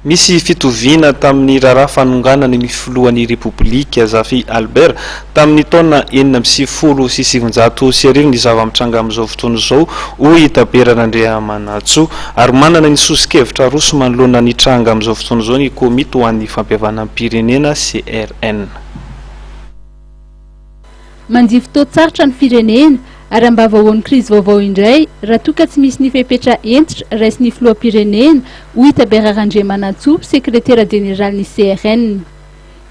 Misy fitoviana tamin'ny raharaha fanonganany ny filohan'ny Repoblika, Zafy Albert, tamin'ny taona enina amby sivifolo sy sivinjato sy arivo ny zava-mitranga amin'izao fotoana izao, hoy i Tabera Randriamanantsoa. Ary manana ny soso-kevitra aroso manoloana ny tranga amin'izao fotoana izao ny Komity ho an'ny fampihavanam-pirenena, CRN. Mandia fotoan-tsarotra ny firenena, ary am-bava ao amin'ny krizy vaovao indray raha toa ka tsy misy ny fepetra hentitra raisin'ny filoham-pirenena, hoy Tabera Randriamanantsoa, sekretera jeneralin'ny CRN.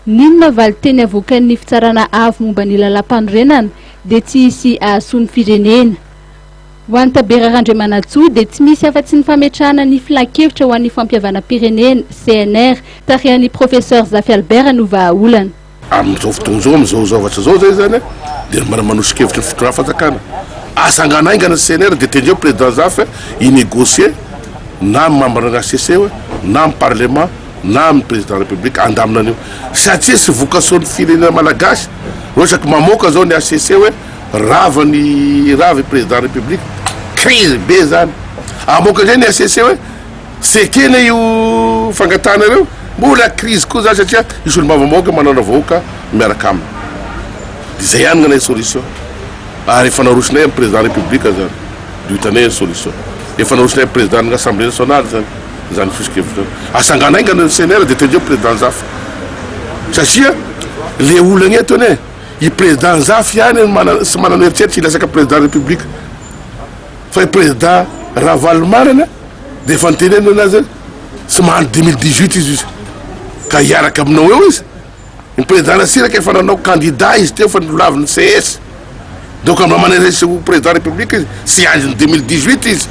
N'inona valin-teny avoakan'ny Fitsarana Avo momba ny Lalàmpanorenana dia tsy hisy hahasoa ny firenena. Ho an'i Tabera Randriamanantsoa dia tsy misy afa-tsy ny fametrahana ny Filan-kevitra ho an'ny Fampihavanam-pirenena, CNR, tarihan'ny Professeur Zafy Albert no vahaolana. Amin'izao fotoana izao, amin'izao zavatra izao izay izany an, dia mba manoso-kevitra ny fitondram-panjakana. Atsangano haingana ny CNR dia tendreo président Zafy hoe hi-négocier na amin'ny membre ny HCC hoe na amin'ny parlement na amin'ny président république handamina an'io satria tsy vokasoan'ny firenena malagasy no isaky mamoaka izao ny HCC hoe rava ny rava i président république. Crise be izany. Hamoaka indray ny HCC hoe. Tsy ekena io fangatahanareo? Mbola crise koa zany satria io solombavambahoaka manandra vahoaka miaraka aminy. De zay ihany ngnahy solution. Ary efa narosonay am président république zany. De ho hitanay ny solution. Efa narosonay am président ny assemblée nationale zany zany fisokevitrao. Asangano aingana ny CNR de tendreo président Nzafy. Satria le olana eto anie i président Nzafy ihany no manana sy manana eritreritra hilatsaka président république. Fa i Prezida Ravalomanana dia efa nitenenina anazy hoe tsy mandry dimy mille dix huit izy izy ka hiaraka aminao eo izy. Ny Prezida Ratsiraka efa nanao kandida izy teo fa nolavin'ny CS. Donc raha mba manerese ho Prezida Repoblika izy tsy handry ny dimy mille dix huit izy.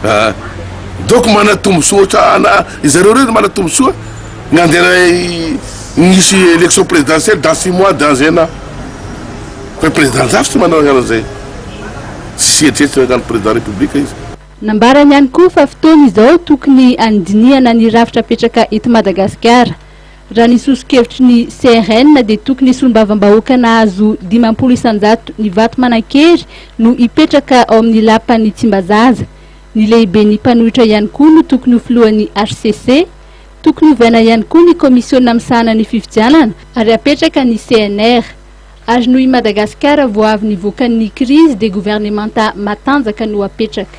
Ah. Donc manatombosoa ohatrana izareo ireo manatombosoa ny handeha nisy élection présidentielle dans six mois, dans un an. Fa i Prezida Nzafy tsy manao an'izay. Tsy heritreritra ny an'ny Président République izy. Nambarany ihany koa fa fotoana izao tokony handinihana ny rafitra apetraka eto Madagasikara. Raha ny soso-kevitry ny CRN dia tokony solombavambahoaka nahazo dimampolo isan-jato ny vato manan-kery no hipetraka ao amin'ny Lapan'i Tsimbazaza. Ny lehiben'ny mpanohitra ihany koa no tokony ho filohan'ny hcc. Tokony ovaina ihany koa ny kaomisiona misahana ny fifidianana ary apetraka ny CNR. Ary noho i Madagasikara vao avy nivoaka ny krizy dia governemanta matanjaka no apetraka.